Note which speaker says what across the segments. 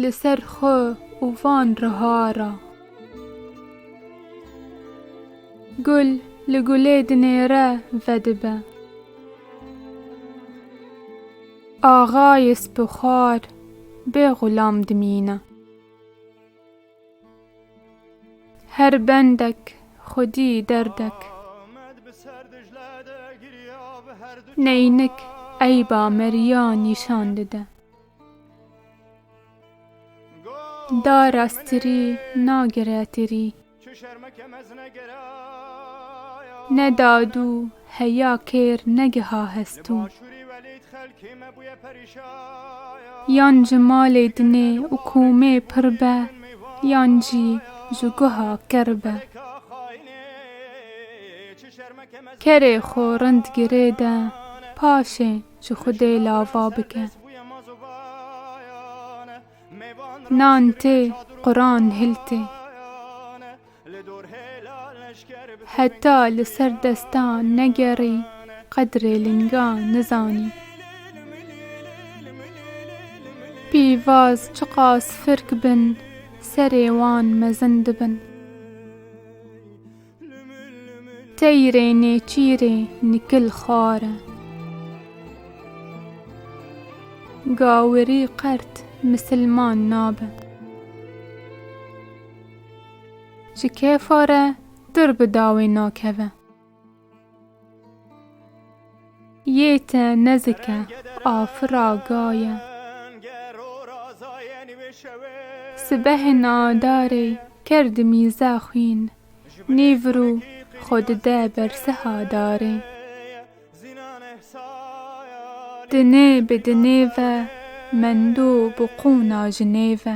Speaker 1: Li ser xwe û van riha ra. Gul li gulê dinêre vedibe. Axayê spixwar bê xulam dimîne. Her bendek xwedî derdek. Neynik eyba meriya nîşan dide. Dara stirî nagire tirî. Ne dad û Heya kêr negiha hestû. Yan ji malê dinê û komê pir be yan jî ji guha ker be. Kerê xwe rind girê de paşê ji xwedê lava bike. Nan tê, quran hiltê. Heta li ser destan negerî qedrê lingan nizanî. Pîvaz çiqas firk bin serê wan mezin dibin. Teyrê nêçîrê nikil xwar e. Gawirî qert misilman nabe. Ji kêfa re dir bi dawê nakeve. Yê te nezike afira gaye. Sibehê nadarê ker di mîze xwîn nîvir û xwe dide bersiha darê. Dinê bi dinê ve mendû bi qûna jinê ve.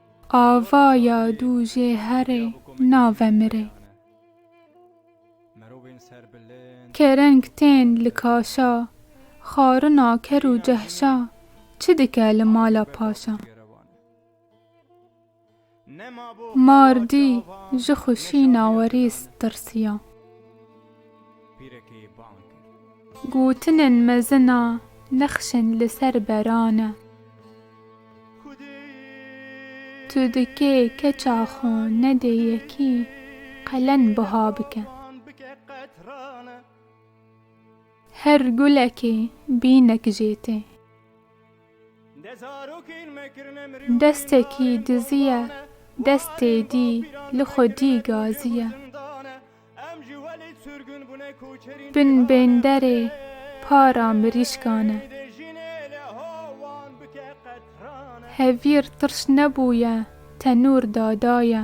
Speaker 1: Ava ya dû jê herê nave mirê. Kereng tên li kaşa, xarina ker û cehşa, çi dike li mala paşa. Mar dî ji xwişîna werîs tirsiya. Gotinên mezin a nexşên li ser beran e. Tu dikê keça xwe nedê yekî qelen buha bike. Her gulekê bînek jê tê. Destekî diziye destê dî li xwe dî gaziye. Bin bênderê para mirîşkan e. Hevîr tirş nebûye tenûr da daye.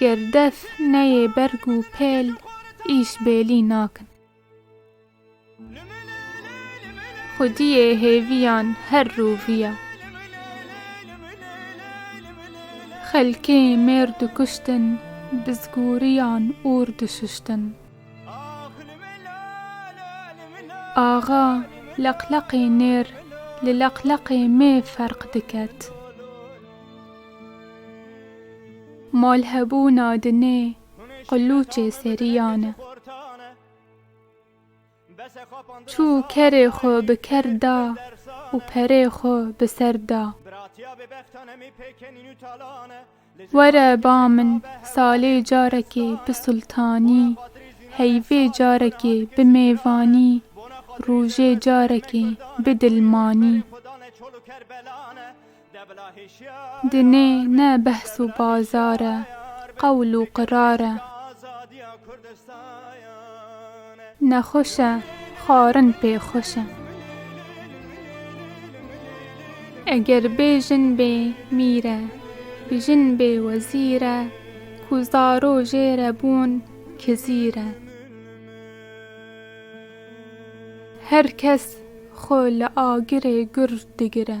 Speaker 1: Ger def neyê berg û pêl îş bêlî nakin. Xwediyê hêviyan her roviya. Xelkê mêr dikuştin bi zgûriyan ûr dişuştin. Axa leqleqê nêr li leqleqê mê ferq diket. Malhebûna dinê qilûçê seriyan e. Çû kerê xwe bi ker da û perê xwe bi ser da. Were ba min salê carekê bi sultanî, heyvê carekê bi mêvanî, rûjê carekê bi dilmanî. Dinê ne behs û bazar e, qewl û qirar e. Nexweş e, xwarin pê xweş e. Eger bê jin bê mîr e, bijin bê wezîr e, ku zaro jê re bûn kizîr e. Her kes xwe li agirê gur digire.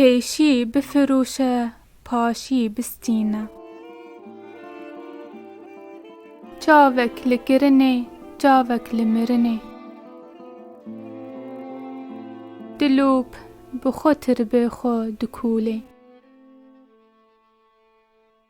Speaker 1: Pêşî bifirûşe, paşî bistîne. Çavek li kirinê, çavek li mirinê. Dilûp bi xwe tirbê xwe dikûlê.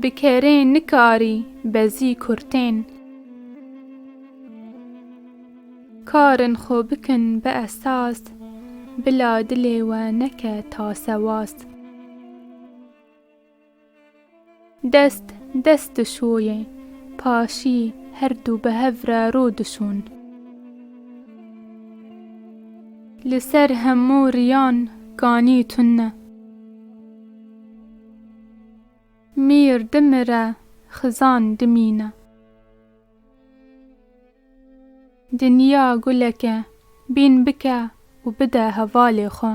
Speaker 1: Bi kerê nikarî bezî kurtên. Karên xwe bikin bi esas. Bila dilê we neke tasewas. Dest dest dişoyê, paşî her du bi hev re rû dişon. Li ser hemû riyan ganî tune. Mîr dimire, xizan dimîne. Dinya guleke, bîn bike û bide hevalê xwe.